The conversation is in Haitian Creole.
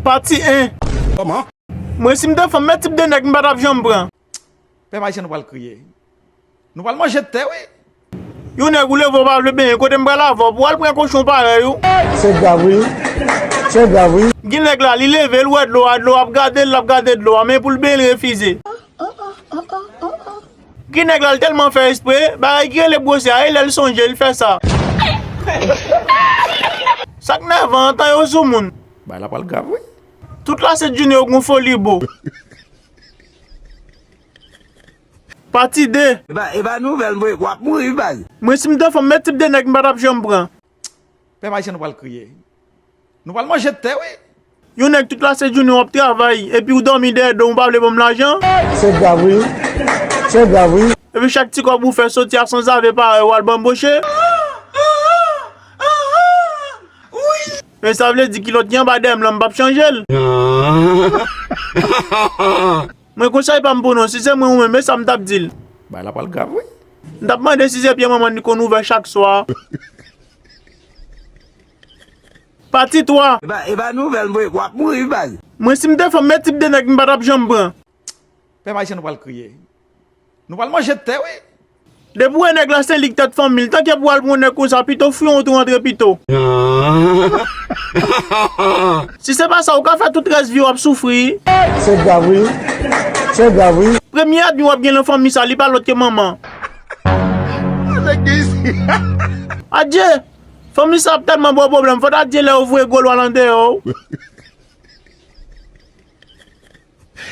Pati 1. Koman? Mwen sim te fanm men tip de nèg m patap janm pran. Pèp ayisyen nou pral kriye. Nou pral manje tè wi. Yon nèg ou leve ou pa vle benyen kote m pral avè w pou al pran kochon parèy ou. Se grav wi. Se grav wi. Gin nèg la li leve l wè dlo a dlo a ap gade l lap gade dlo a men pou l benyen l refize. Gin nèg la l tèlman fè espre bagay ki rele bwose a e lè l sonje l fè sa. Sak nèvan an tan yo sou moun. Bagay la pral grav wi. Tout la se Junio gon foli boo. Pati 2. Epa nouvel vre wap mouri wi baz. Mwen sim te fanm men tip de nèg m patap janm pran. Pèp ayisyen nou pral kriye. Nou pral manje tè wi. Yon nèg tout la se Junio wap travay epi ou domi dèyè dom ou pa vle banm lajan. Se grav wi se grav wi. Epi chak ti kob ou fè soti a sanzave parèy ou al banboche. E sa vle di kilot ki anba dèyè m lan m pap chanje l? Mwen konsèy pa m pou nou, si se mwen ou menm e sa m tap di l? Bagay la pral grav wi. M tap mande si se pye manman l li konn ouvè chak swa. Pati 3. Epa nouvèl mwen wap mouri baz. Mwen sim te fanm men tip de nèg m patap janm pran. Pèp ayisyen nou pral kriye. Nou pral manje tè wi. Depi wè nèg la se lik tèt fanmil tanke pou al pran yon nèg konsa pito w fwion w tou rantre pito. Si se pa sa ou ka fè tout rès viw ap soufri. Se grav wi. Se grav wi. Premye èdmi wap gen lan fanmi sa li pa lòt ke manman. Adye! Fanmi sa ap tèlman baw pwoblèm fò ta di lè yo voye gwo lwa lan deyò w.